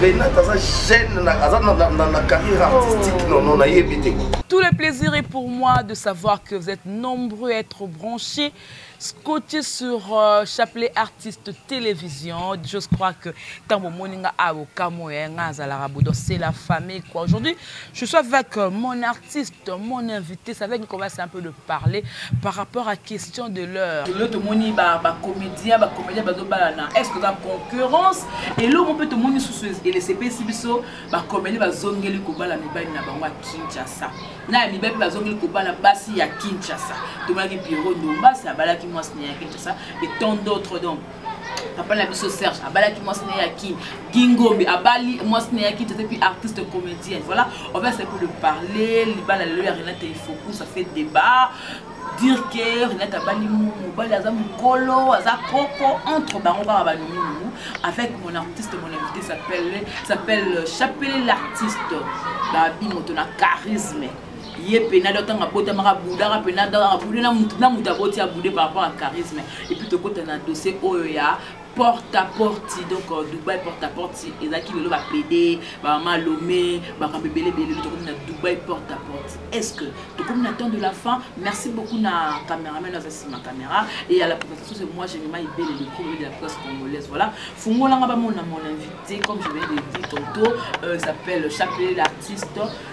Renate aza jeune na aza na na na carrière artistique oh. non non na yebi te Tout le plaisir est pour moi de savoir que vous êtes nombreux à être branchés scotché sur euh, chapelet artiste télévision je crois que ntango omoni nga awa okamwe nga azalaka bodo c'est la famille quoi aujourd'hui Je suis avec euh, mon artiste, mon invité. Ça va commencer un peu de parler par rapport à question de l'heure. L'autre moni ba ba comédien, ba comédien ba dobalana. Est-ce que la concurrence et l'autre on peut tout moni sous ce et les CPC biso ba comédien ba zongeli ko bala mi bani na bango à Kinshasa. Na mi bani ba zongeli ko bala basi ya Kinshasa. Tout moni Pierrot Ndomba, ça bala ki moi à Kinshasa et tant d'autres donc. papa na biso serge abalaki mwasi na ye ya kin gingombi abali mwasi na ye ya kin tete puis artiste comédienne voilà on va essayer pour de parler libala lelo ya renate ifoku ça fait débat dire que renate abali mobali aza mokolo aza koko entre bango kaka banumunungu avec mon artiste mon invité s'appelle s'appelle chapele l'artiste babi moto na charisme ye pena do ntango abotamaka abudaka pena do abude na moto aboti abude par rapport ya charisme epuis tokota na dossier oyo ya porte à porte donc euh, dubai porte à porte ezalaki lelo bapede bamama lome bakambo ebele ebele lelo tokomi na dubai porte à porte est ce que tokomi na temps de la fin merci beaucoup na cameraman aza nsima caméra et à la présentation c'est moi généralement ebele le premier de la presse congolaise voilà fungolanga bamona mon invité comme je viens de dire tantôt euh, s'appelle chapelet l'artiste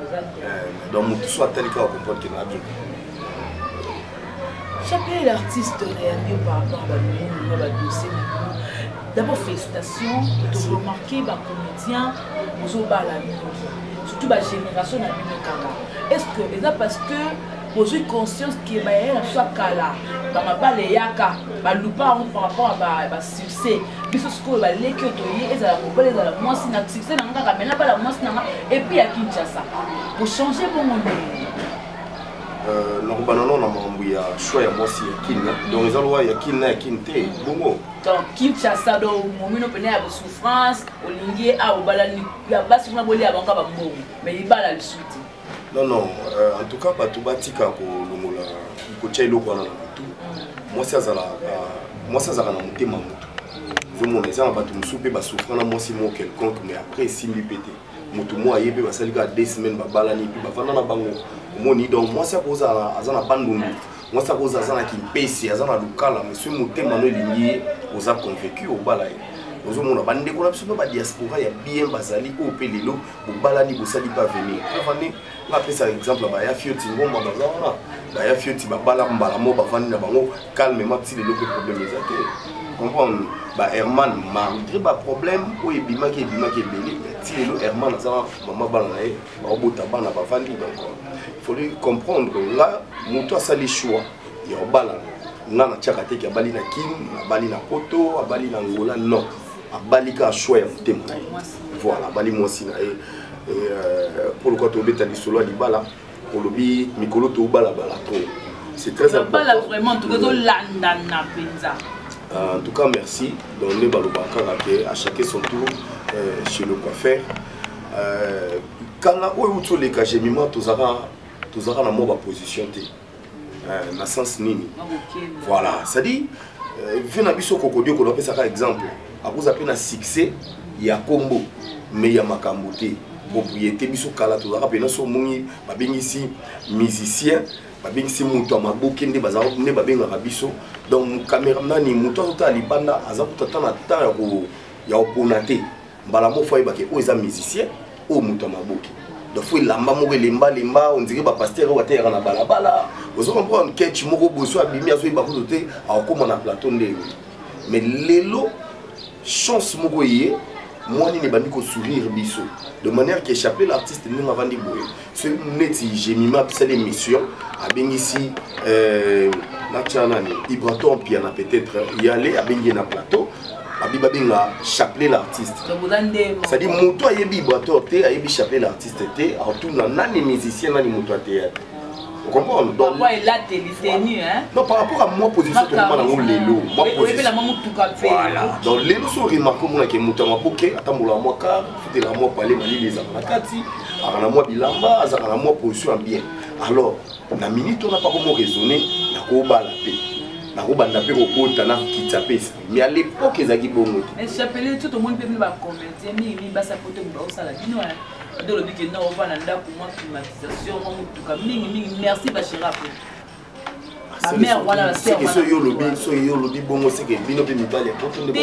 Eh, donc motu so atali kaka comprendre ke na bien chaque l'artiste oyambi yo par rapport balumu na badossier na bino d'abord félicitation toremarke bacomédien bozobala mingi surtout bagénération na bino kaka est ce que eza parce que bozwi conscience ke bayaya na biso ya kala bamabala eyaka balupa yango par rapport ya succès biso sikoyo baleki oyo toye ezala mobali ezala mwasi na succès na nga kaka mena bala mwasi na nga epuis ya kinshasa kochange bongo ndenge euh, nakobana no na makambo ya choix ya mwasi ya kin donc eza lowa ya kin na ya kin te bongo donc kinshasa do momino mpena ya bosouffrance olingi ye aobalani ya basi kuna bolia bango ka bambongo mais libala lisuti non non euh, en tout cas bato batika kolongola kotya eloko wana na motu mwasi azalaka mwasi azalaka na motema motu ozomona eza na bato mosusu mpe basouffra na mwasi moko quelconque mais après esimbi mpe te motu moko aye mpe basali kaka deux semaine babalani mpe bafanda na bango omoni donc mwasi akozala aza na bandundu mwasi akozala aza na kimpesi aza na lukala monsieur motema no elingi ye oza convaincu obala ye ozomona bandeko na biso mpe badiaspora ya bien bazali oyo mpe lelo bobalani bosali mpe avenir avandi nga apesaka exemple baya fioti ngomba baza wana baya fioti babala mbala moko bavandi na bango calmement ti lelo mpe problème eza te comprendre ba herman malgré baproblème oyo ebimaki ebimaki ebele ti lelo herman aza mama bana na ye baobota bana bavandi donc foli comprendre nga moto asali choix ya obalana nga natyaka te ke abali na kin abali na poto abali na ngola non abali ka choix ya motema na ye voilà abali mwasi na ye euh, mpo lokola tobeta lisolo ya libala olobi mikolo tobalabala to c'est très importantbala vraiment toke tolandana mpenza euh, en tout cas merci donc nde baloba kaka ke à chacun son tour euh, chez le coiffeur kala oyo uti oleka gemima tozalaka na mwa baposition te euh, na sens nini voilà c'est à dire euh, vie na biso kokodio kono apesaka exemple akoza mpe na succès ya kombo mais ya makambo te propriété biso kala tozalaka mpena so omoni babengisi musicien babengisi moto ya maboke nde nde babengaka biso donc camera nani moto azotala libanda aza kutata na temps ya kopona te mbala moko fo ayebake oyo eza musicien oyo moto ya maboke donc fo elamba moko elemba lemba ondire bapastere oyo ateyaka na balabala ozo comprendre ketch moko boso abimi azoyeba kutu te akokoma na plateau nde ewe mais lelo chance moko eye mwanini ebandi kosourire biso de manière que chapelet l'artiste ndenge avandi boye soki neti gemima apesali émission abengisi euh, natya nani ibrato ampiana peut-être yale abengi ye na plateau abi babenga chapelet l'artiste cestadi moto ayebi ibrator te ayebi chapelet l'artiste te atuna nani musicien nani moto ya théâtre okomprendre donc non par rapport à moi position tokoma nango lelo voilà donc lelo so remarke omonake moto ya maboke atambolaka mwa kar tela mwa pale malili ezala na kati azala na mwa bilamba azala na mwa position ya bien alors na minute wana pako mo raisonne nakobala mpe nakobanda mpe kokota na kitsa mpe esprit mais à l'époque ezalaki bongo chapelet to tomoni mpe bino bacomédien mingi mingi basapote moto bakosala bino ade olobi ke nao ovanda ndako mwa climatisation mwa motuka mingi mingi merci bachera mpe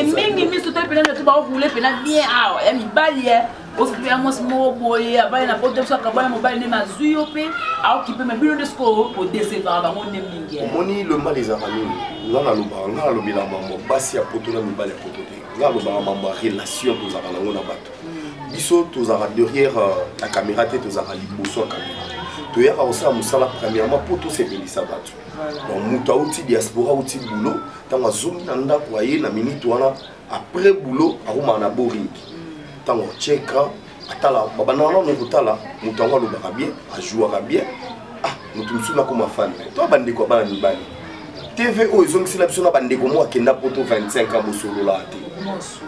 mingi miso tali pena ndoki baokule pena bien awa ya mibali e ozokipe ya mwasi moko boye abali na poto biso akabana mobali nde mazwi yo mpe aokipe ma bino nde sikoyo bodesevaka bango nde mingi omoni le mal ezalaka nini nga nalobaka nga nalobela mambo basi ya poto na mibali ya poto te nga alobaka mambo ya relation tozalaka nango na bato biso tozalaka derrière la euh, caméra te tozalaka liboso ya caméra toyaka kosala mosala premièrement mpo tosepelisa bato donc moto auti diaspora auti boulot ntango azongi na ndako aye na minute wana après boulot akomaka na boring ntango cheka atala babanda wana nokotala moto yango alobaka bien ajouaka bien ah moto mosusu nakoma fan na ye to bandeko ya bana mibali tv oyo ezongisela biso na bandeko moko akenda poto 25 ans bosololaka te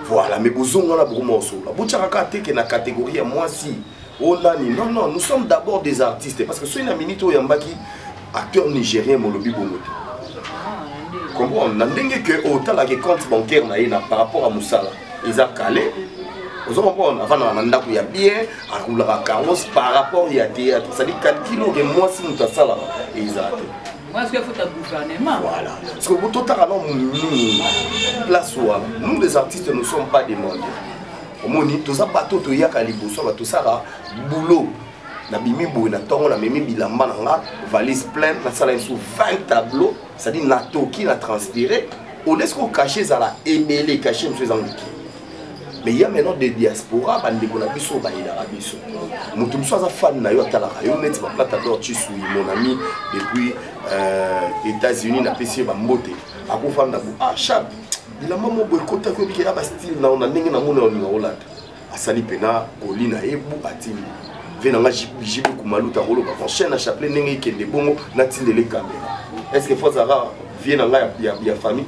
voilà mais bozongi wana bokoma kosolola botyaka kaka teke na catégorie ya mwasi o oh, nani non non nous sommes d'abord des artistes parce que soki na minute oyo oyambaki acteur nigérien molobi bongo te ah, comprendre na ndenge ke otalaki oh, compte bancaire na ye na par rapport ya mosala eza kale ozo comprendre avandaka na ndako ya bien akulaka carlos par rapport ya théâtre cestadi calcul oke mwasi moto asalaka eza te voilà parce que totaka no nini place wana nous les artistes ne sommes pas demandés omoni toza bato toyaka liboso bato tosaka boulot nabimi boye na ntongo namemi bilamba na nga valise pleine nasala lisusu 20 tableau cestadire natoki na transpire olesi kokache ezala ebele kache mosusu eza moke mais ya maintenant de diaspora bandeko na biso bayelaka biso moto mosusu aza fane na yo atalaka yo neti baplata dor chisui mon ami depuis euh, états-unis napesi ye bambote akofanda bo ah chap bilamba moko ekotaki obike ya bastyle nao na ndenge namona olinga olata asali mpena koli na ye bu atindi ve na nga jibe kumaluta koloba prochaine na chapelet ndenge ekende bongo natindele kamera est ce que fozaka vie na nga ya, ya, ya famille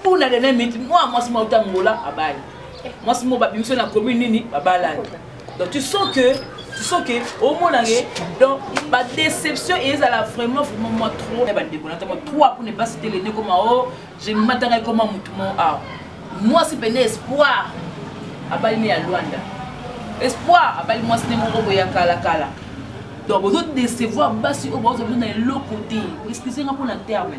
mpona dernière minute mwa mwasi mwa uta ngola abali mwasi moko babimisi na commune nini babalani donc tu sens que tu sens que omona ye donc badéception ezala vraiment vraiment mwa trop ya bandeko na ntango trois pour ne pas citer le ndeko mao je matanga ekoma motu mo awa mwasi pene espoir abali ne ya lwanda espoir abali mwasi nde moko boya kalakala donc bozo décevoir basi oyo baozali na eloko te excuse nga mpo na terme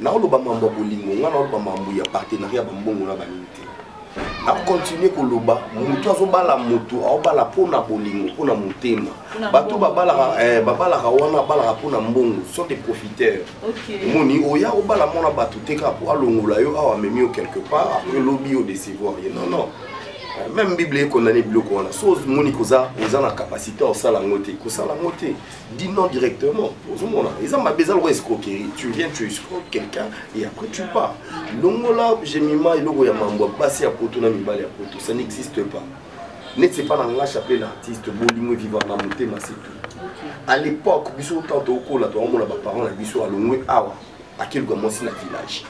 naoloba mambo ya bolingo ngai naoloba mambo ya partenariat bambongo na banini te nakontinue koloba motu azobala motu aobala mpo na bolingo mpo na motema bato babalaka eh, babalaka wana abalaka mpo na mbongo sont des profiteurs omoni oya obala mwana bato te kaka mpo alongola yo awa amemi yo quelque part après lobi yo décevoir ye non non eh, même bible ekondane biloko wana so omoni koza oza na capacité osala yango te kosala yango te Dis non directement. Ils ont besoin de escroquerie. Tu viens, tu escroques quelqu'un et après tu pars. Longola, j'ai mis ma logo ya mambo, passer à poto na mibali à poto. Ça n'existe pas. N'est c'est pas dans la chapelle l'artiste, bolingo vivant na motema c'est tout. À l'époque, biso tant au col là, toi on a parents la biso à longwe awa. À quel moment c'est la village?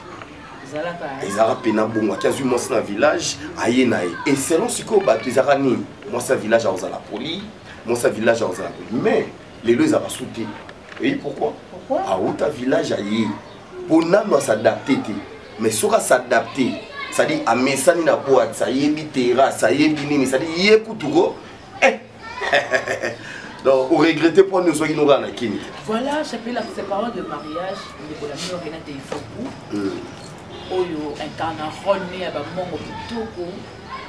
ezalaka mpe na bongo ati azwi mwasi na village aye na ye eselon sikoyo bato ezalaka nini mwasi ya village akozala poli mosa village akozala pe mais lelo ezaka su te eyi pourquoi awuta village aye mpo nano asadapte te mais soki asadapte cestadi amesani na boite ayebi terrasse ayebi nini cestadi ye kutu ko eh. donc oregrete mpo nini ozwaki nokaa na kini voilà chapelet la parole de mariage ndeko na bino renate ifoku oyo incarna role ne ya bamongo kitoko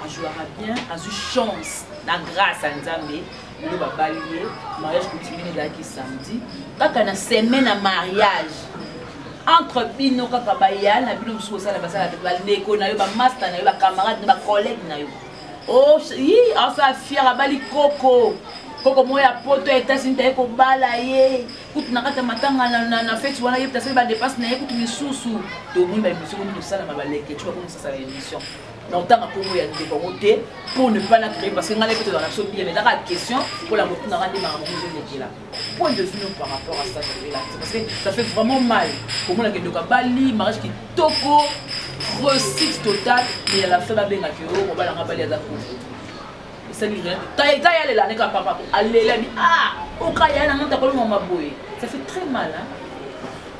ajouaka bien azwi chance na grâce ya nzambe lelo babali ye mariage coutumier ezalaki samedi kaka na semaine ya mariage entre bino kaka baya na bino mosusu kosala basala bandeko na yo bamasta na yo bacamarade na bacollègue na yo oh, yi asala fiere abali koko koko moko ya poto ya etats-unis taye kobala ye kutu na kati ya matanga na feti wana ye tasali badepense na ye kutu misusu tomoni baemission komi tosalama balekeci bakomi sasala emission na kotanga nkombo ya ndeko yango te pour ne pas na créer parce que ngai nayebi tozala na biso bien ezaka question mpo na kotunaka nde makambo ezolekela point de vue no par rapport à ça tobela parce que ça fait vraiment mal komona ke ndoka bali mariage kitoko réussite totale mais ya la fin babengaki yo obalanga bali aza kufu esali rien te ta ya lela ne ka papa alela bi ah oka ya na nota kolonga maboye ça fait très mal hein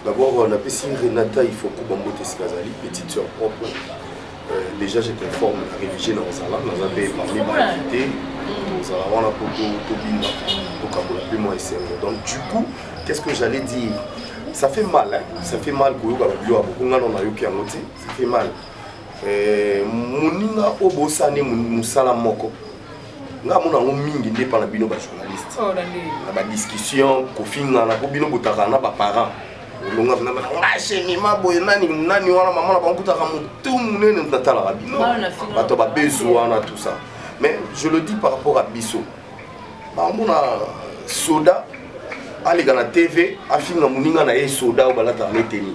D'abord, euh, napesi Renata Ifoku Bambote Sikazali, petite sœur propre. Euh, déjà, je t'informe, la réfugiée dans Zala, dans un pays parmi ma invité, dans Zala, on a Poto, Tobina, Tokabola, puis moi, et Donc, du coup, qu'est-ce que j'allais dire Ça fait mal, hein Ça fait mal, Koyoka, Babio, Abokongano, Nayoki, Amote, ça fait mal. eh, moninga oyo bosani mosala moko nga amona yango mingi nde epa na bino bajournaliste oh, na badiscussion kofingana mpo bino botaka na baparent olonga nashemima boye nani nani wana mama na bankutaka motu monene natalaka bino bato babezu wana tout ça mais je le dis par rapport à biso bamona soda aleka na tv afinga moninga na ye soda oyo balataka na eteni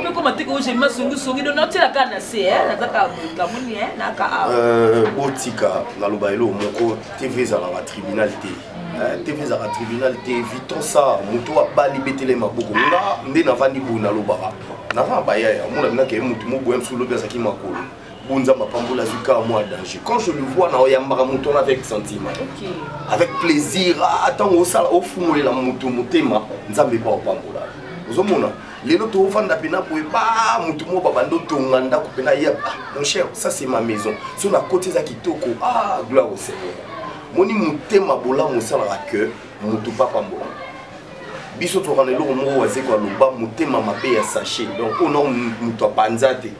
mpe koma te koo jemi masongisongi do natyela kaka na se eh, naza kaka bokamoni eh, naka awa euh, botika naloba eloo moko tv ezalaka tribunal te Eh, tv ezalaka tribunal te viton sa moto oyo abali betele maboko nga nde navandi boye nalobaka naza na bayaya omona binaka ye motu moboya mosusu lobi azalaki makolo Bon Nzambe apambola azwi kaka mwa danger quand je le vois na oyambaka moto wana avec sentiment okay. avec plaisir ntango ah, osala ofungolela moto motema nzambe epa opambola ozomona lelo tovanda mpena boye ba motu moko babanda otonga ndako mpena ye ah, mon cher ça c'est ma maison so na koti eza kitoko ah gloire au seigneur moni motema bolamu osalaka que motu papambola biso tokana eloko moko wazeko aloba motema mabe ya sachet donc ona moto apanza te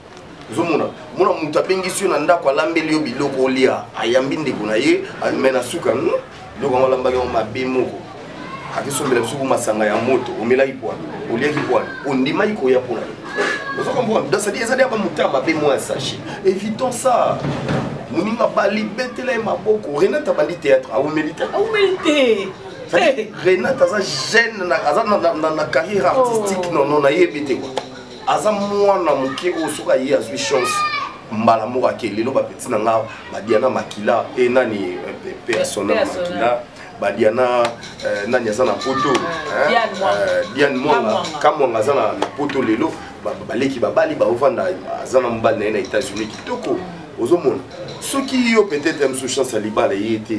ozomona mona moto abengisi yo na ndako alambeli yo biloko olia ayambi ndeko na ye me na suka hmm? biloko yango alambaki yango mabe moko akisombela biso masanga ya moto omelaki pwani oliaki pwani ondimaki koya mpona yo ozo comprendre donc cetadire ezali ya bamoto ya mabe mwa ya sache évitons ça moninga bali betela ye maboko renate abandi théâtre aumeli te aumeli te renate aza jeune aza na carrière artistique nono nayebi te kua aza mwana moke oyo soki aye azwi chance mbala moko ake lelo bapeti na nga badiana makila e nani eh, persona makila badiana eh, nani aza na poto diane mwanga eh, kamwanga aza na poto lelo baleki babali baovanda aza na mobali na ye na états-unis kitoko ozomona soki yo peut-être ya mosusu chance ya libala eye te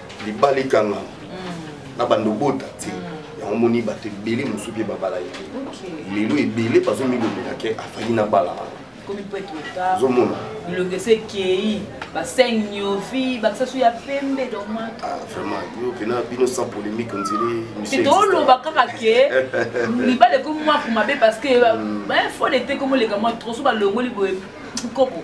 libala ekangama mm. na bando bota te mm. yango moni bato ebele mosusu mpe babala ye te lelo ebele bazomilobela ke afali na bala wana ozomona bilongi esi ekei baseng niovi bakisasu ya pembe domat ah, vraiment yo pena bino sans polémique ondire toloba kaka ke libala ekomi mwaku mabe parce que mm. fo lete komoleka mwa troso balongoli boye kopo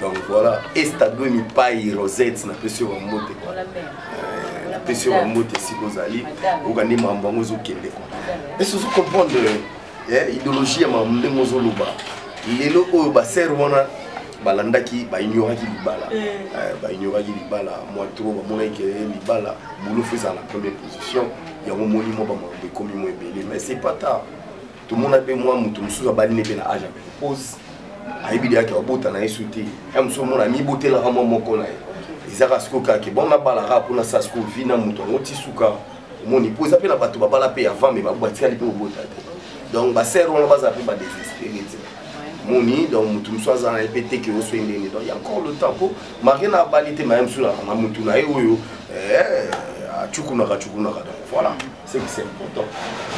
donc voilà estado mipai rosette napesi yo bambote euh, napesi yo bambote esika ozali oyoka nde mambo yango ezokende kwa esi ozo comprendre eh, idéologie ya mambo ndenge ozoloba lelo oyo basere wana balandaki baignoraki libala eh. Eh, baignoraki libala mwa to bamonaki ke libala bolofu ezala na première position yango moni mwa bamambo ekomi mwa ebele mais c'est pas tard tomona mpe mwa moto mosusu abali ne mpe na age ya menopause ayebi deyaki abota na ye so te ya mosusu omona amibotelaka mwa moko na ye ezaka sikoyo kaka ke bon nabalaka mpona sa sikoyo vi na moto yango ti suka omoni mpo eza mpe na bato babala mpe avant me batikali mpe kobota te donc basere wana baza mpe badesespere te moni donc moto mosusu aza na ye mpe teke oso ye ndenge donc ya encore le temps mpo marie na abali te maye mosusu na motu na ye oyo eh, acukunaka cukunaka donc voilà ce qui c'est important.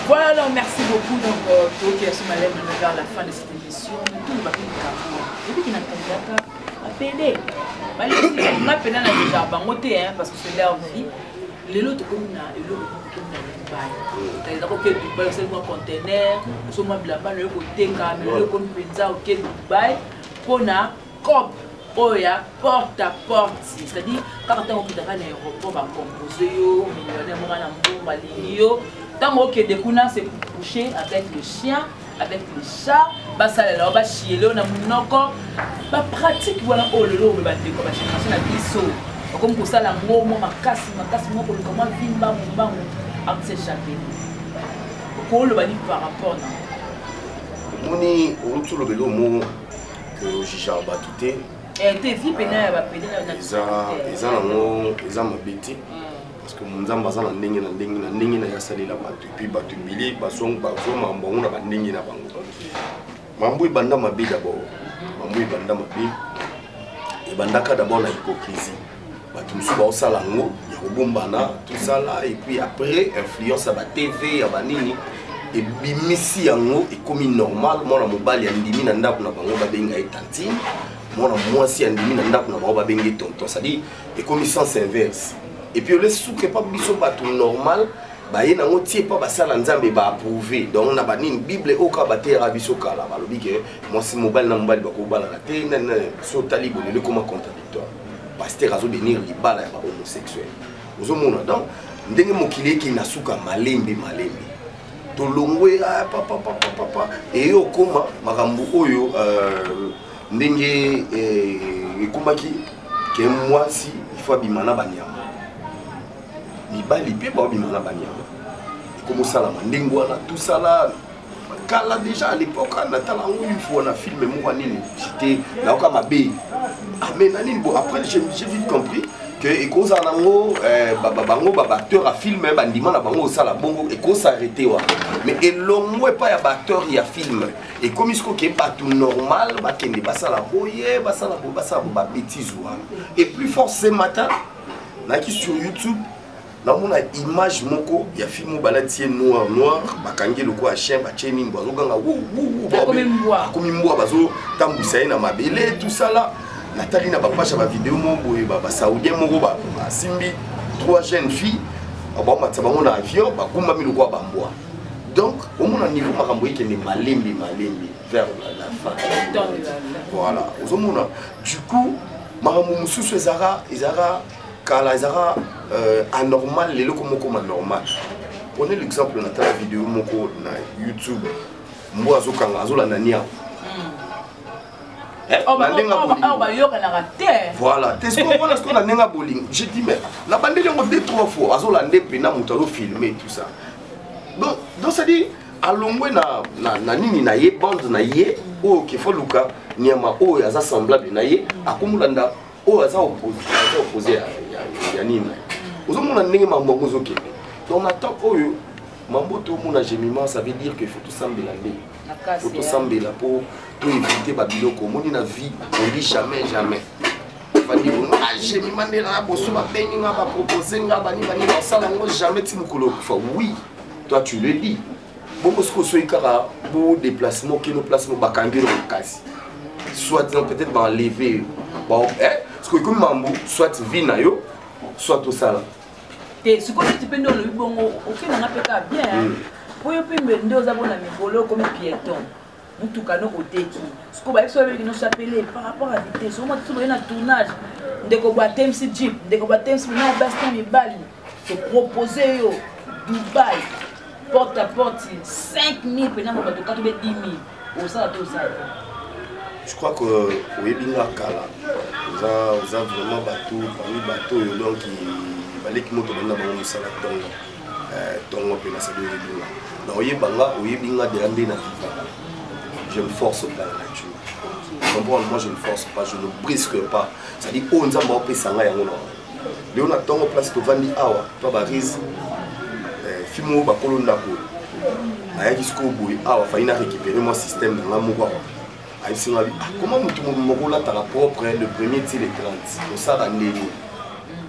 Voilà, alors merci beaucoup. Donc, euh, toi qui as su malem vers la fin de cette émission, tout le bateau du Cameroun, et puis qui n'a pas d'accord, à pédé. On a pédé dans le jardin, on hein, parce que c'est leur vie. lelo tokomi na eloko tokomi na dubai tayeza koke dubai osali mwa contener osomwa bilamba na yo koteka me lelo ekomi mpenza oke dubai mpona cop oyo ya porte à porte c'est-à-dire kaka ntango okendaka na aéroport bacompose yo millionnaire moko na mbongo alingi yo ntango okende kuna se coucher avec le chien avec le chat basalela yo bashiyele yo na monoko bapratique wana oyo lelo oyo bandeko bageneration na biso bakomi kosala yango mwa makasi makasi mwa koluka mwa vi mbangu mbangu akosechape okoloba nini par rapport na omoni owuti olobela omo que ojijaka bato te eh, te vi pena ya bapede eza nango eza mabe te hmm. parce que nzambe aza na ndenge na ndenge na ndenge na ye asalela bato epuis bato ebele bazomama bango na bandenge na bango mambo ebanda mabe dabord mambo ebanda mabe ebandaka dabord na hypocrisie bato mosusu baosala yango ya kobombana tosala epuis après influence ya batv ya banini ebimisi yango ekomi normal mwana mobali andimi na ndako na bango babenga ye tantine mwana mwasi andimi na ndako na bango babenge tonton cestadire ekomi sens inverse epuis ole suke mpa biso bato normal baye nango tie mpa basala nzambe baapprouve donc na banini bible oyo kaka bateyaka biso kala balobi ke mwasi mobali na mobali bakobalana te nani nani so otali bolelo ekoma contradi pasteur azo benir libala ya ba homosexuel ozomona donc ndenge mokili eke na suka malembe malembe tolongwe ah, papa papa papa eye okoma makambo oyo euh, ndenge eh, ekomaki ke mwasi ifo abima na banyama mibali mpe baobima na banyama ekomosalama ndenge wana tosala kala déjà à l'époque hein, natala yango une fois na film moko nini c'était nayoka mabe ah, mais na nini bon après j'ai vite compris que ekozala nango eh, bango baacteur ya film eh, bandima na bango osala bongo ekosarete wa mais elongo epai ya baacteur ya film ekomi siko ke bato normal bakende basala boye basala boye basala bo babétise wana et plus fort ce matin naki sur youtube namona image moko ya fille moko balati ye noir noir bakangi ye lokola chien batye nini bo azoganga akomi mbwa bazotambwisa ye na mabele tosala natali na bapasha bavideo moko boye basaudien moko basimbi trois jeunes filles baomatisa bango na avion bakumbami lokola bambwa donc omona niveau makambo ekende malembe malembe vers la fin voilà ozomona du coup makambo mosusu ezalaka ezalaka kala ezalaka euh, anormal lelo komokoma normal prenez l'exemple na tala video moko na youtube mbo azokanga azolanda niango eh, oh, bayokanaka oh, oh, te voilà te sokomona sikoyo na ndenge ya bolingo je dis mais na bandeli yango de trois fois azolande mpena moto azofilme tout ça donc donc cetadire alongwe na, na, na nini na ye bande na ye oyo kefa luka nyama oyo aza semblable na ye akomolanda oyo aza opposé ya nini ozomona ndenge mambo yango ozokende donc na temps oyo mambo tomona gemiment ça veut dire que faut tosambela nde faut tosambela mpo toevite babiloko omoni na vie on dit jamais jamais bandi bongo agemi ah, mandela na boso babengi nga bapropose nga bani bani basala yango jamais ti mokolo okufa oui toi tu le dis bongo soki osoki kaka bo déplace mo kino place mo bakangi yo na makasi soit disant peut-être baenleve yo bon eh, soki ekomi mambo soit vie na yo soit osala te sikoyo neti mpe nde olobi bongo okendanga mpe kaka bien mpo hmm. yo mpe mbe nde oza bona mikolo okomi pieton mutuka no oteki sikoyo bayebisi babeleki no chapele par rapport à vitesse omwa tiso boye na tournage ndeko bwa temsi jeep ndeko bwa temsi na basi na mibali topropose yo dubai porte à porte 5000 mpena ngo bato katobe 10 000 osala to osala je crois que oyebi nga kala oza oza vraiment bato parmi bato oyo donc baleki moto banda bango mosala ntongo eh, tongo mpe nasali oyebinga na oyebanga oyebinga deya nde na vivaka je me force pas la nature comprendre moi je ne force pas je ne brisque pas c'est à dire oyo nzambe aopesa ngai yango na yango lelo na ntongo place tovandi awa to barise eh, fimi oyo bakolo ndako ayaki sikoyo boye awa fai na récupéré mwa système na ngai moko awa ayebisi ngai ah, koma motu moko olataka propre le premier ti le 30 kosala ndeni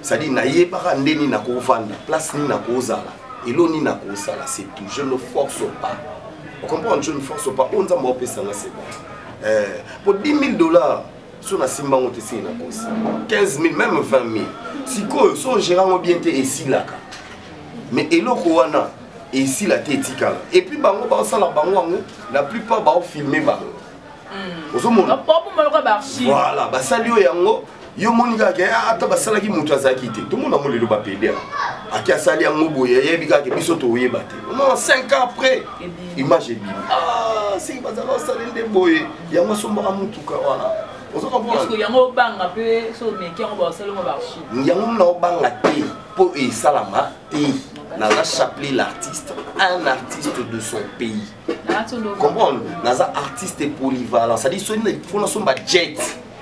cestadire nayebaka nde nini nakovanda place nini nakozala elo nini nakosala c'est tout je ne force pas ocomprendre je ne force pas oyo nzambe aopesa nga c'est bon eh, po 10 000 dollars so nasimba yango te esili na kosi 15 000 même 20 000 sikoyo so ogera yango bien te esilaka mais eloko wana esila te etikala epuis bango baosala bango yango la plupart baofilme bango hmm. ozomona voilà basali oyo yango yo omoni kaka ah, ata basalaki moto azalaki te tomona yango lelo bapede ake asali yango boye ayebi kaka biso toyeba te omona 5 ans après image ebimi ah, siki bazala osali nde boye yango asombaka motuka wana yango mona obanga te mpo esalama pays naza chapelet l'artiste un artiste de son pays comprendre naza artiste polyvalent cestadire soni fo nasomba jet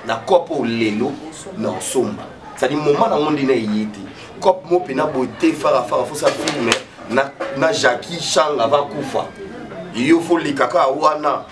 na cope oyo lelo na osomba cestadire moma nango nde na eye te cope mo mpena boye te farafara fosa filme na, na jacqui chang ava kufa yo foleka kaka wana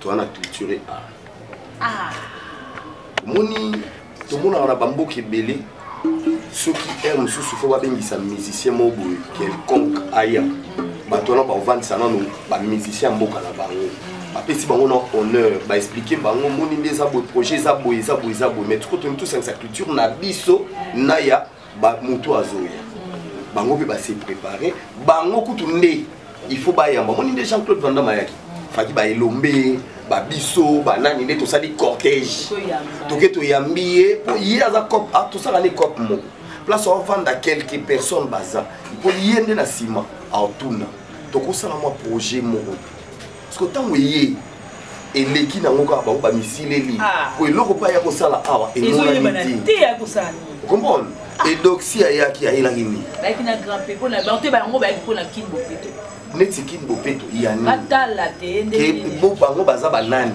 toza na culture art ah. omoni tomonaka na bamboka ebele soki heure mosusu fo babengisa musicien moko boye quelconque aya bato wana bakovandisa nano bamusicien ya mboka na bango bapesi bango na honneur baexplike bango moni nde eza boye projet eza boye eza boye eza boye mais toko toni tosangisa culture na biso na ya ba mutu azoya bango mpe base prépare bango kutu nde il faut bayamba omoni nde jean claude vandam ayaki faki baelombe babiso banani nde tosali cortège toke toyambi ye mpo ye aza cop ah, tosala ne cop moko place ovanda quelque personne baza mpo ye nde na nsima aotuna tokosala mwa projet moko siko ntango eyei eleki nango kaka bango bamisileli ah. po eloko mpe aya kosala awa emonani te comprendre ah. edoxi ayaki ayelaki nini neti kin bopeto yanibo bango baza banani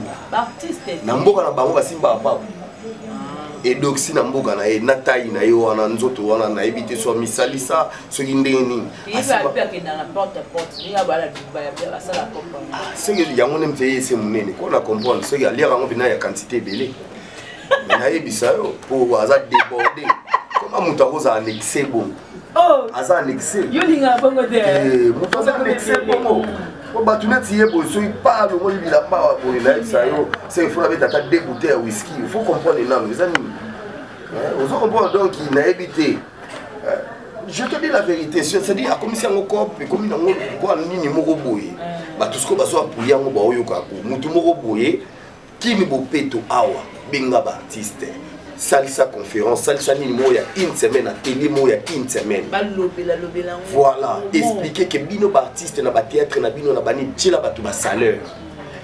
na mboka na bango basimbaka mpako ah. edoxi na mboka na ye na tai na ye wana nzoto wana nayebi te so misalisa soki ndenge nini soki yango nde mpe ese monene mpo na comprendre soki aliaka yango mpena ya quantité ebele me nayebisa yo mpo aza déborde koma moto akozala na excès bongo oh! aza na excès eh, moto aza na excès bongo po bato neti ye boye soki pa longoli bilamba wa boye nayebisa yo se ifo nabeta ata de bouteille ya whisky ifo comprendre nano eza nini eh, ozo comprendre donc nayebi te je te dis la vérité cestadire akomisi yango cop ekomi nango mpo nini moko boye mm. bato sikoyo bazo appuye yango baoyoka ko motu moko boye kini bopeto awa benga baartiste salisa conférence salisa nini moko ya une semaine atelier moko ya une semaine voilà explike ke bino baartiste na batheatre na bino na bani tiela bato basaleur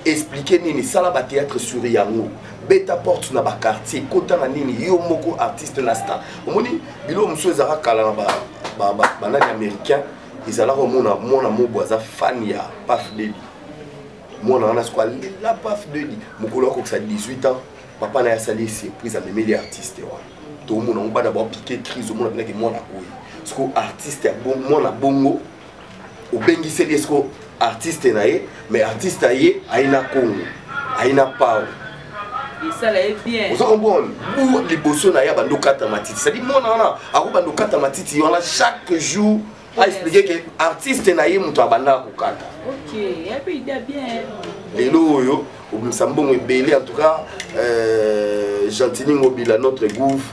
explike nini sala batheatre sur yango beta porte na ba quartier kota na nini yo moko artiste na star omoni biloko mosusu ezalaka kala na banani américain ezalaka omona mwana mobo aza fan ya paf dedi mwana wana siko alela paf dedi mokolo akokisa 18 ans papa na ye asali surprise amemeli artiste wana tomona yango bana baopike crise omona mpenaki mwana koyi siko artiste ya mwana bongo obengiseli ye siko artiste na ye mais artiste na ye aye na congo aye na pao esala ye bien oza comprendre bu liboso na ye abandi okata matiti cetadi mwana wana akobanda okata matiti wana chaque jour aexplike ke artiste na ye moto abandaka kokata lelo oyo obimisa mbongo ebele en tout cas euh, gentini ngobila notre gouve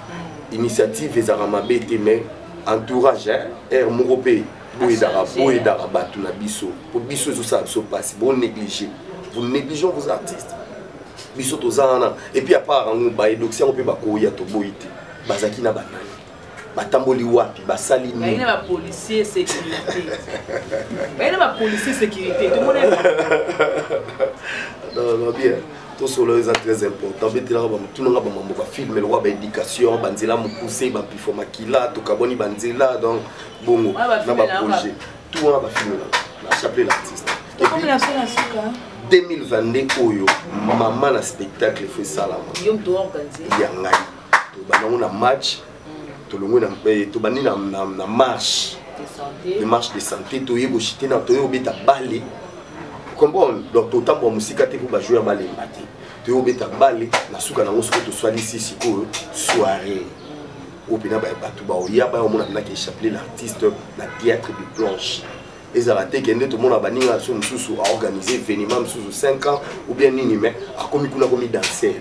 initiative ezalaka mabe te mais entourage hein heure moko pe boyedaka boyedaka bato na biso po biso ezosala biso mpasi bo néglige vous négligeons vos artistes biso toza wana epuis apart yango baedoxi yango mpe bakoya toboyi te bazalaki na banani batamboli wapi basali nini bapolicier sécurité tomona bien tosolo eza très important betelaka bamotunanga bamambo bafilme lokola baéducation banzela mokuse bampifo makila tokabwani banzela donc bongo na baprojet tout wana bafilme na chapelet l'artiste 2022 oyo mama na spectacle fo esalama ya ngai tobandango na match tolongwe na eh, tobandi na, na, na marche de marche de santé toye koshite na toye kobeta bale comprendre donc totambola mosika te mpo bajoueur balemba te toye kobeta bale na suka nango soki toswalisi sikoyo soirée oyo mpena bato baoya baya omona mpena ke chapelet l'artiste na théâtre de planche ezala te kende tomona baninga na biso mosusu aorganize événement mosusu 5 ans ou bien nini mais akomi kuna akomi danser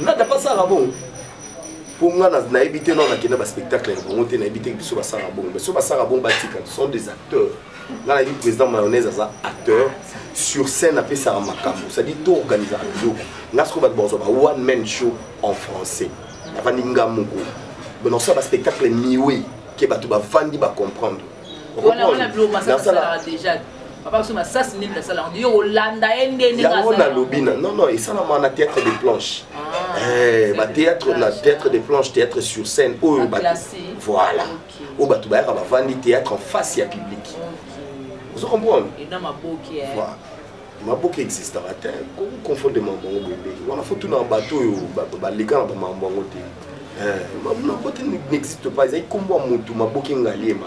nada mpe asalaka bongo mpo nga nayebi te nao nakenda baspectacle ya bango te nayebi te biso basalaka bongo mais so basalaka bongo batika sont des acteurs nga nayebi président mayonnaise aza acteur sur scène apesaka makambo cestadi to organisaka biloko nga sikoyo bato bakozwa ba one man show en français avandi nga moko banosa baspectacle miwe ke bato bavandi bacomprendre yango nalobi na non non esalama na théâtre de planche ah, eh, bathéâtre na théâtre de planche théâtre sur scène oyo voilà oyo bato bayaka bavandi théâtre en face ya public ozo comprendre maboke existaka te koki confondre mambo yango boye ndenge wana fo tuna bato oyo baleka na bamambo yango te eh, maboke n'existe pas ezali nkombo ya motu maboke ngaliema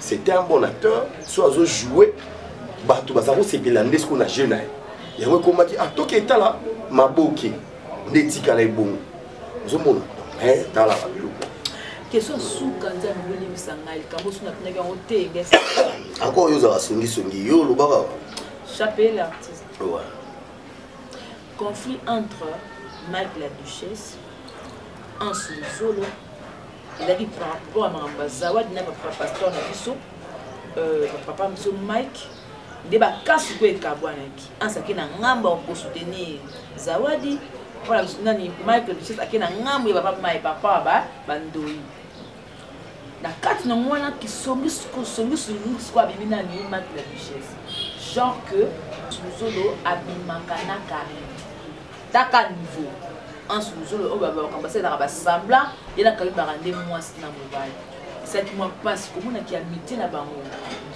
c'était un bon acteur so azo joue bato baza kosepela nde sikoyo na jeu na ye yango ekomaki ah toki etala maboke nde etikala ebongo ozomona eh, tala babiloko question suka nzambe bolimisa ngai likambo osu natunaki yango te akoo yo ozala songisongi yo olobaka Chapelet l'artiste. Ouais. Conflit entre Mike la Duchesse, Ansu Zolo, ezalaki par rapport ya makambo ya zawadi na papa pasteur na biso euh, papa biso mike nde bakasi mpo ekabwanaki ansi ake na ngambo ya kosoutenir zawadi mpona nani mike duchesse ake na ngambo ya papa mai papa ba bandoi na kati na yango wana kisongisongiso sikoyo abimi nani mati na duchesse genre que luzolo abimaka na carine taka niveau anse luzolo oyo babakambo basalelaka basembla ye na carine baka nde mwasi na mobali esalaki mwa mpasi komonaki ya mite na bango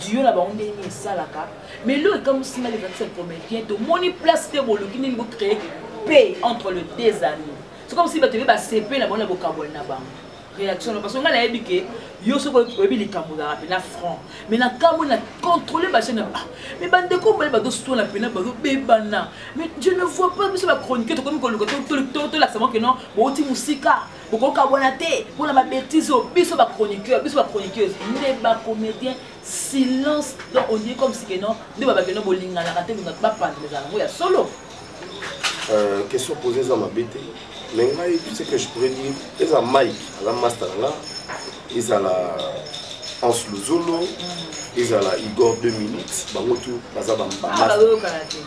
diyo na bango ndenge nini esalaka mais lelo ekamwisi ngai levakisa comédien tomoni place te boluki nini bocree paix entre le deux amis soki bamosi bato ebe basepela bango na bokabwani na bango réaction no parce que ngai nayebi ke yo soki oyebi likambo olaka mpena franc mais na kambo na contrôle bachaine ah, mais bandeko mobali bazoswana mpena bazobebana mais je ne vois pas biso bachronique tokomi koluka tolakisama ke non bouti mosika bokokabwana te mpona babétise oyo biso bachroniqueur biso bachroniqueuse nde bacomédien silence donc ondie comme si ke non nde babakeno bolinganaka te bapanda ezala yango ya solo Euh, question posée eza mabe te mais ngai ce que je pourrais dire eza mike aza master na nga ezala hans luzolo ezala igor 2 minutes bango tu baza ah,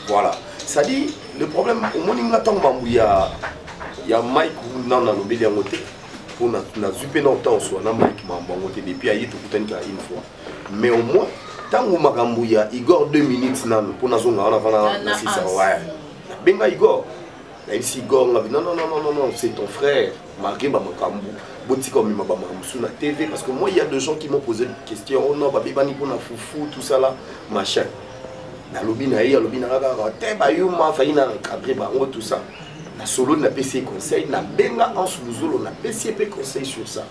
voilà c'est-à-dire le problème omoni nga ntango mambo ya ya mike nano nalobeli yango te mpo nazwi mpe na ntango swa na mike mambo yango te depuis aye tokutani kaka une fois mais au moins ntango makambo ya igor 2 minutes nano mpo nazonga wana vana na sisa waya nabenga igor nayebisi igor ngabi non non non non non c'est ton frère malgré bamakambo botika omema bamaka mosusu na tv parce que moi il y a de gens qui m'ont posé des questions oh non babebani mpo na fufu tout ça là machin nalobi na ye alobi na nga kaka te bayuma fai na encadre bango tout ça nasololi napesi ye conseil nabenga anse luzolo napesi ye mpe conseil sur ça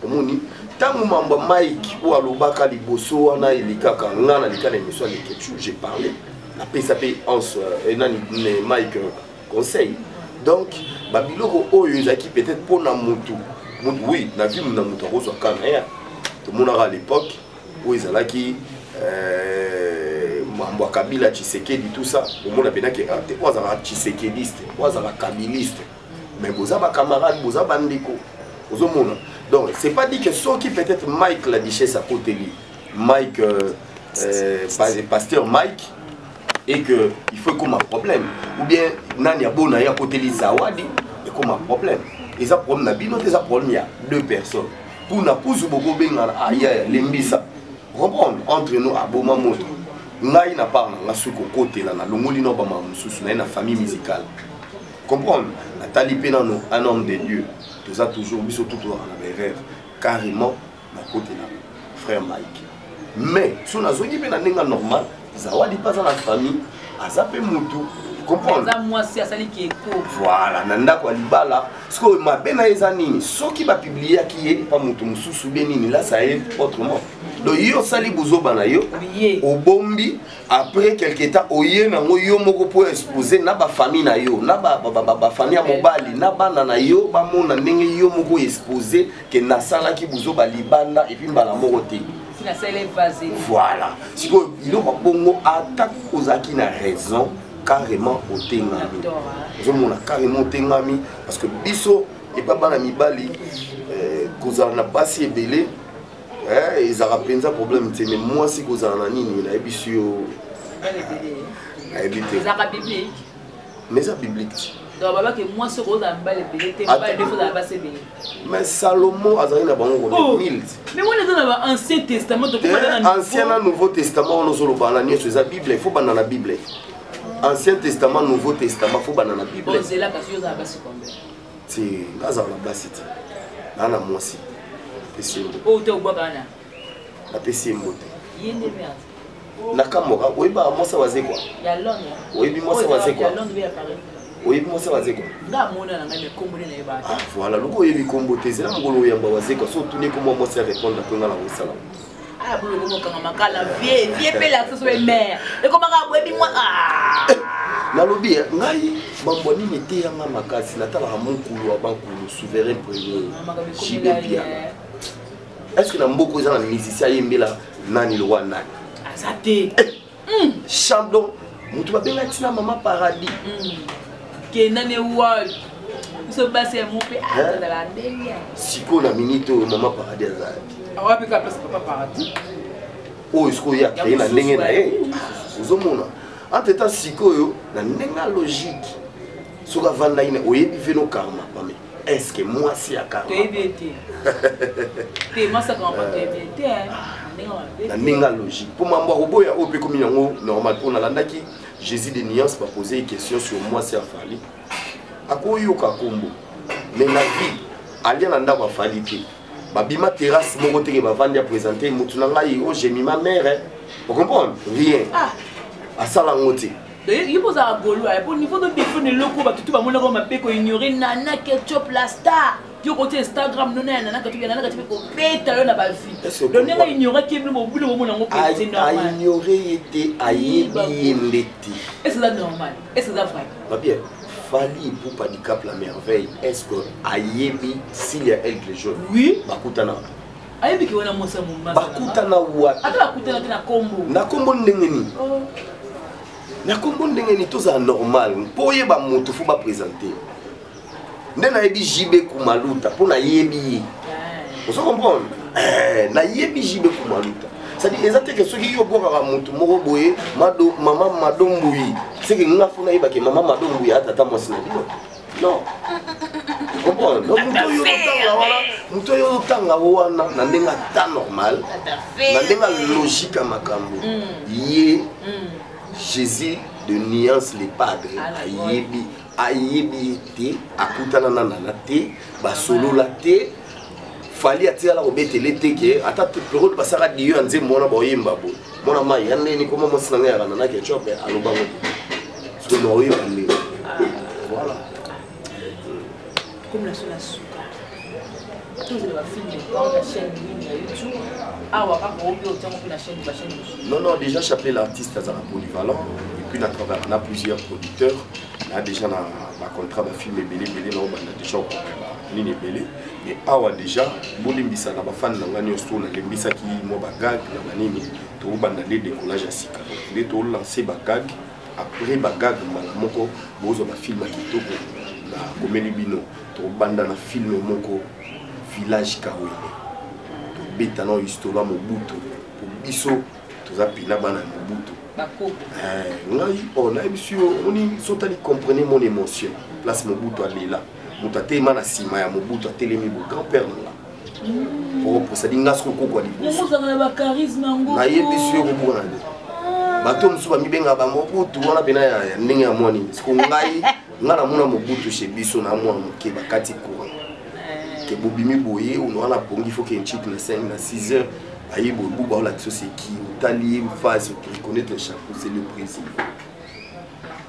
omoni ntango mambo ya mike oyo alobaka liboso wana elekaka nga na lika na émission ya leketchou j'ai parlé napesa mpe anse euh, nani mike euh, conseil donc babiloko oyo ezalaki peut-être mpo na motu oui na vie na moto akozwa ka na ye tomonaka à l'époque oyo ezalaki euh, mambo ya kabila tshisekedi tout ça omona mpenaki arte oyo azalaka tshisekediste oyo azalaka kabiliste mais boza ba camarade boza ba ndeko ozomona donc c'est pas dit que soki peut-être Mike la duchesse akoteli Mike euh, euh, pasteur Mike et que il faut comme un problème ou bien nani abona ya akoteli zawadi et comme un problème eza problème na bino eza problème ya deux personnes kuna kuzu bokobengana aya ah, lembisa comprendre entre nous aboma moto ngai na part na nga soki kokotela nalongoli na bamama mosusu naye na famille musicale comprendre natali mpe nano un homme de dieu toza toujours biso tout tozalaka na baerreur carrément nakotela frère mike mais so nazongi mpe na ndenge normal zawadi mpe aza na famille aza mpe motu comprendremwasi asali kieko voilà na ndako ya libala sikoyo mabe na ye eza nini soki bapibliaki ye pa moto mosusu be nini lasa ye autrement donc yo osali buzoba na yo obombi après quelque temps oye nango yo moko mpo expose na bafamille na yo na bafamille ya mobali na bana na yo bamona ndenge yo moko expose ke nasalaki buzoba libanda epuis mbala moko te voilà sikoyo biloko bongo ata ozalaki na raison carrément otengami ozomona carrément otengami parce que biso epa bana mibali eh, kozala na basi ebele eh, ezalaka mpenza problème te me mwasi kozala na nini nayebisi yo nayebi te mais eza biblique mais salomo azali na bango oh, ancien eh, na nouveau testament wana ozoloba na nyonso eza bible ifo banda na bible ancien testament nouveau testament fo banda na bible te nga azala na basi te naa na mwasi napesi ye mbote oyo te ogbaka wana napesi ye mbote ye nde merde nakamboka oyebi mwasi wazekwa oyebi mwasi wazekwa oyebi mwasi wazekwa ah, voilà lokola oyebi kombo te zela mokolo oyamba wazekwa so otuni komwa mwasi ya répondre mpe nga na kosala Ah, boulot comme quand ma cala vie, vie pe la que soit mère. Et comment on boit moi ah. nalobi eh, ngai bambwa nini eteya ngai makasi natalaka monkulu ya bankulu souverain premier jibepia est ce que na mboka eza na musicien ayembela nani lowa nani aza te eh, mm. chandon moto babenga ntina mama paradis mm. kenda ne wapi biso basi ya mope azala ndenge sikoyo na minite oyo mama paradis azala awapi ka place papa paradis oyo sikoyo ye akreye na ndenge na ye ozomona entre temps sikoyo na ndenge ya logique soki avandaki na oyebi veno karma pame eske mwasi ya na ndenge logique mpo mambo akoboya oyo mpe komi yango normal mpo nalandaki jésus de nuance bapose question sur mwasi ya fali akoyoka nkombo mais na vie alia na ndako afali te babima terrasse moko teke bavandi apresente motu na ngai o oh, jemima mare eh. ocomprendre rien ah. asala yango te ye mpo ozala golois mpo niveau to defone eloko bato tu bamonaka mabe koignore nana ketchup la star yo koti instagram nona ya nana ketchup ya nana ketchup ekobeta yo na bavie do ndenge aignoraki ye bino bobino bomona yango aignore ye te ayebi ye nde te est eza normal est eza vrai babien fali ipupa dicap la merveille est ce que ayebi silia elgle jaune oui bakutanaka ayebi ke wana mwasi ya mombasa bakutana wapi ata bakutana te na kombo na kombo ndenge nini oh. na kombo ndenge nini tozala normal mpo oyeba motu fo bapresente nde nayebi jibe kumaluta mpo nayebi ye eh. ozo comprendre eh, nayebi jibe kumaluta sadi eza teke soki yo obwakaka motu moko boye mama madombuyi seke nga fo nayebake mama madombuyi atata mwasi na bino non comprendre donc moto oyo otanga wana moto oyo otanga wana na ndenge ata normal na ndenge logique ya makambo ye jésus de nuance le padre ayebi ayebi ye te akutanana nana te basolola te fali atikala kobetele te ke ata periode basaka diyo ya nzembo wana baoyemba bo mwana mai ya ndeni koma mwasi na ngai yakana na ketchope alobango soki naoyeba nde voilà comme la seule à souka tozela bafilme na chaîne nini ya youtube awa kaka obi otiango mpe na chaîne bachaîne non non déjà chapelet l'artiste azala polyvalent et puis na travail na plusieurs producteurs na déjà na bacontrat bafilme ebele ebele na obanda déjà okokaba nini ebele mais awa déjà bolimbisa na bafani na ngai nyonso nalembisaki mwa bagag na banini tokobanda nde décollage ya sika nde tolanse bagag après bagag mbala moko bozwa bafilme ya kitoko na komeli bino tokobanda na filme moko village kawele tobeta na histola mobutu po biso toza mpena bana ya mobutu eh, ngai o oh, nayebisi yo omoni sotali comprene mon émotion place mobutu alela moto atelema na nsima ya mobutu atelemi bo grand père na nga okosadi nga soki okokwa libosonayebi soki okobukana te bato mosusu bamibengaka bamobutu wana mpena ya ndenge ya mwa nini siko ngai ngai namona mobutu chez biso na mwana moke bakati courant eh. ke bobimi boye ono wana pongi fo ke nchik na 5 na 6 heures aye boye buba olakisa oseki otali ye mfasi oreconnaitre chapeau c'est le président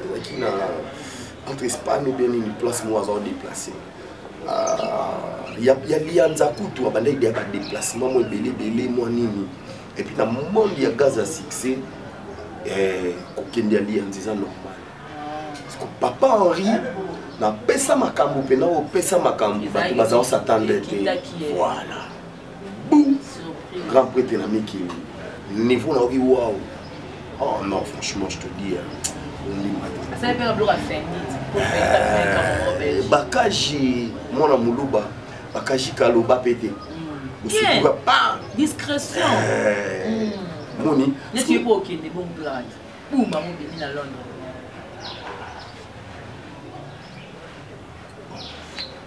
azalaki na entre espagne ou bien nini place moko aza odeplace ya liyanza kutu abandaki deya badeplacement mwa ebele ebele mwa nini epuis na monde ya gaz ya succès eh, kokende ya liyanza eza normal papa henri napesa makambo mpe na opesa makambo bato baza osatande te voilà boum grand prêtre na mikili niveau naoki waw oh non franchement je te dis eh, bakaji mwana moluba bakaji kaloba mpe te hmm. osukuka pa discrétion eh, hmm. moni neti yepo okende bon grade buma mobimi na londres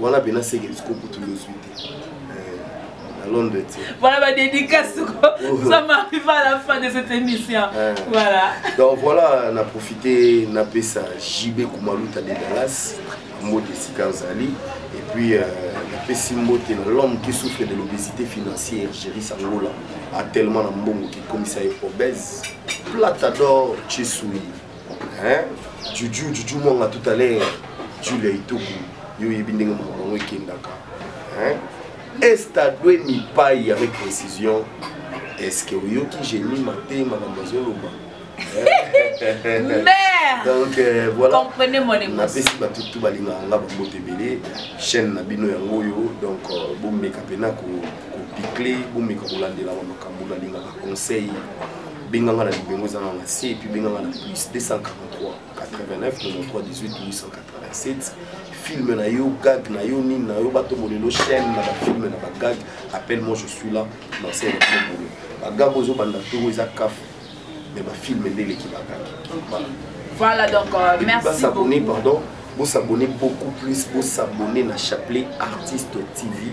wana pena seke siko kutu yozwi te eh, na londre te voilà ba dédicace ko oh. ça m'arrive à la fin de cette émission eh. voilà donc voilà na profiter na pesa JB Kumaluta de Dallas mbote esika azali et puis euh, napesi mbote na l'homme qui souffre de l'obésité financière Jerry Sangola a tellement na mbongo qui komisa ye obèse plata d'or Chesui hein juju juju mwanga tout à l'heure julia ituku yo oyebi ndenge makambo yango ekendaka hein estadwe mipai avec précision est ce que oyoki génie mate makambo azoloba mère donc euh, voilà comprenez mon émotion napesi bato tout balingaka nga bambote ebele chaîne na bino yango oyo donc euh, bomeka mpena kopicle bomeka kolandelaka makambo nalingaka conseil benga nga na libengo eza na na se epuis benga nga na plus 243 89 93 18 887 filme na yo gag na yo nini na yo bato molelo chaîne na bafilme na bagag appelle moi je suis là na se naobolo bagag ozobanda toro eza kafu mais bafilme nde eleki bagag voilà donc euh, merci basabone pardon bosabone beaucoup plus bosabone na chapelet artiste tv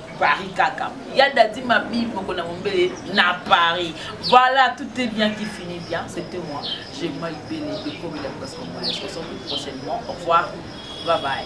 Paris kaka ya dadi mabi moko na mombele na Paris voilà tout est bien qui finit bien c'était moi j'ai mal belé de comme il a presque moi je se retrouve prochainement au revoir bye bye